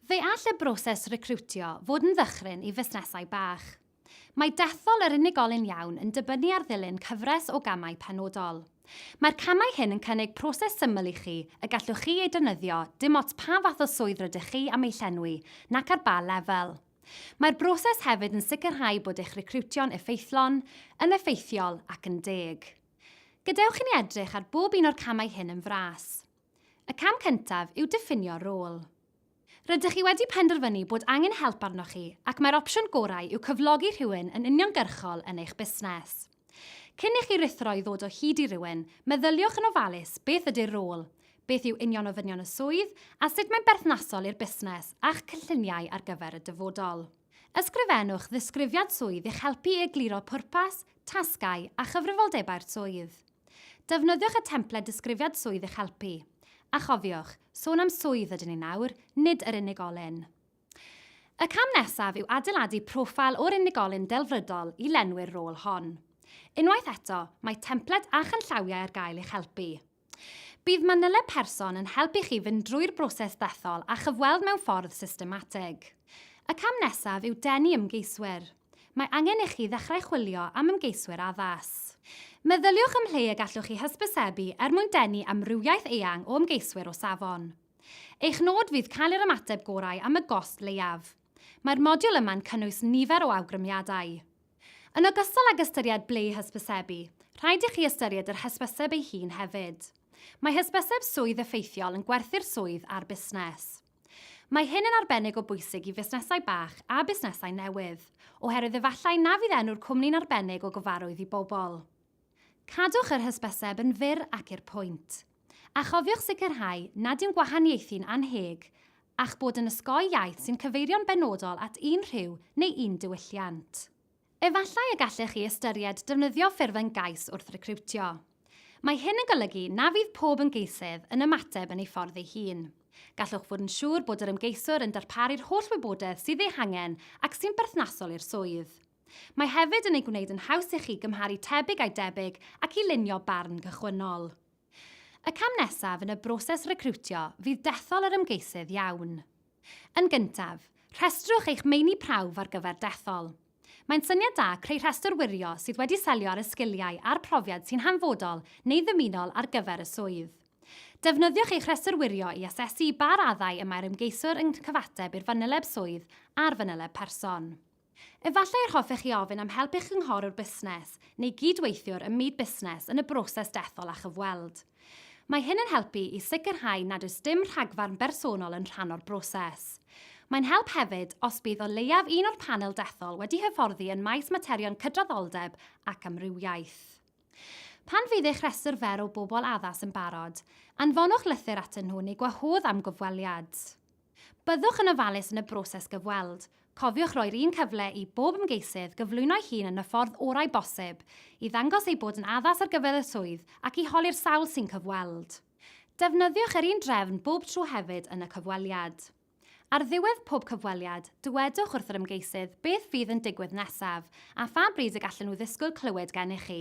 Fe all y broses recriwtio fod yn ddychryn i fusnesau bach. Mae dethol yr unigolyn iawn yn dibynnu ar ddilyn cyfres o gamau penodol. Mae'r camau hyn yn cynnig proses syml i chi y gallwch chi ei defnyddio dim ots pa fath o swydd rydych chi am ei llenwi nac ar ba lefel. Mae'r broses hefyd yn sicrhau bod eich recriwtio'n effeithlon, yn effeithiol ac yn deg. Gadewch i ni edrych ar bob un o'r camau hyn yn fras. Y cam cyntaf yw diffinio rôl. Rydych chi wedi penderfynu bod angen help arnoch chi ac mae'r opsiwn gorau yw cyflogi rhywun yn uniongyrchol yn eich busnes. Cyn i chi ruthro i ddod o hyd i rywun, meddyliwch yn ofalus beth ydy'r rôl, beth yw union ofynion y swydd a sut mae'n berthnasol i'r busnes a'ch cynlluniau ar gyfer y dyfodol. Ysgrifennwch ddisgrifiad swydd i'ch helpu i egluro pwrpas, tasgau a chyfrifoldebau'r swydd. Defnyddiwch y templed Disgrifiad Swydd i'ch helpu. A chofiwch, sôn am swydd ydyn ni nawr, nid yr unigolyn. Y cam nesaf yw adeiladu proffil o'r unigolyn delfrydol i lenwi'r rôl hon. Unwaith eto, mae templed a chanllawiau ar gael i'ch helpu. Bydd manyleb person yn helpu chi fynd drwy'r broses ddethol a chyfweld mewn ffordd systematig. Y cam nesaf yw denu ymgeiswyr. Mae angen i chi ddechrau chwilio am ymgeiswyr addas. Meddyliwch am lle y gallwch chi hysbysebu er mwyn denu amrywiaeth eang o ymgeiswyr o safon. Eich nod fydd cael yr ymateb gorau am y gost leiaf. Mae'r modiwl yma'n cynnwys nifer o awgrymiadau. Yn ogystal ag ystyried ble i hysbysebu, rhaid i chi ystyried yr hysbyseb ei hun hefyd. Mae hysbyseb swydd effeithiol yn gwerthu'r swydd a'r busnes. Mae hyn yn arbennig o bwysig i fusnesau bach a busnesau newydd, oherwydd efallai na fydd enw'r cwmni'n arbennig o gyfarwydd i bobl. Cadwch yr hysbyseb yn fyr ac i'r pwynt. A chofiwch sicrhau nad yw'n gwahaniaethu'n annheg a'ch bod yn osgoi iaith sy'n cyfeirio'n benodol at un rhyw neu un diwylliant. Efallai y gallech chi ystyried defnyddio ffurf ymgais wrth recriwtio. Mae hyn yn golygu na fydd pob ymgeisydd yn ymateb yn ei ffordd ei hun. Gallwch fod yn siŵr bod yr ymgeiswr yn darparu'r holl wybodaeth sydd ei hangen ac sy'n berthnasol i'r swydd. Mae hefyd yn ei gwneud yn haws i chi gymharu tebyg â'i debyg ac i lunio barn gychwynnol. Y cam nesaf yn y broses recriwtio fydd dethol yr ymgeisydd iawn. Yn gyntaf, rhestrwch eich meini prawf ar gyfer dethol. Mae'n syniad da creu rhestr wirio sydd wedi selio ar y sgiliau a'r profiad sy'n hanfodol neu ddymunol ar gyfer y swydd. Defnyddiwch eich rhestr wirio i asesu ba raddau y mae'r ymgeiswr yn cyfateb i'r fanyleb swydd a'r fanyleb person. Efallai yr hoffech chi ofyn am help eich cynghorwr busnes neu gyd-weithiwr ym myd busnes yn y broses dethol a chyfweld. Mae hyn yn helpu i sicrhau nad oes dim rhagfarn bersonol yn rhan o'r broses. Mae'n help hefyd os bydd o leiaf un o'r panel dethol wedi hyfforddi yn maes materion cydraddoldeb ac amrywiaeth. Pan fydd eich rhestr fer o bobl addas yn barod, anfonwch lythyr atyn nhw neu gwahodd am gyfweliad. Byddwch yn ofalus yn y broses gyfweld. Cofiwch roi'r un cyfle i bob ymgeisydd gyflwyno'i hun yn y ffordd orau bosib, i ddangos eu bod yn addas ar gyfer y swydd ac i holi'r sawl sy'n cyfweld. Defnyddiwch yr un drefn bob tro hefyd yn y cyfweliad. Ar ddiwedd pob cyfweliad, dywedwch wrth yr ymgeisydd beth fydd yn digwydd nesaf a pha bryd y gallen nhw ddisgwyl clywed gennych chi.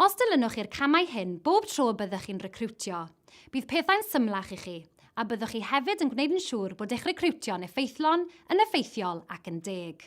Os dilynwch chi'r camau hyn bob tro y byddwch chi'n recriwtio, bydd pethau'n symlach i chi, a byddwch chi hefyd yn gwneud yn siŵr bod eich recriwtio'n effeithlon, yn effeithiol ac yn deg.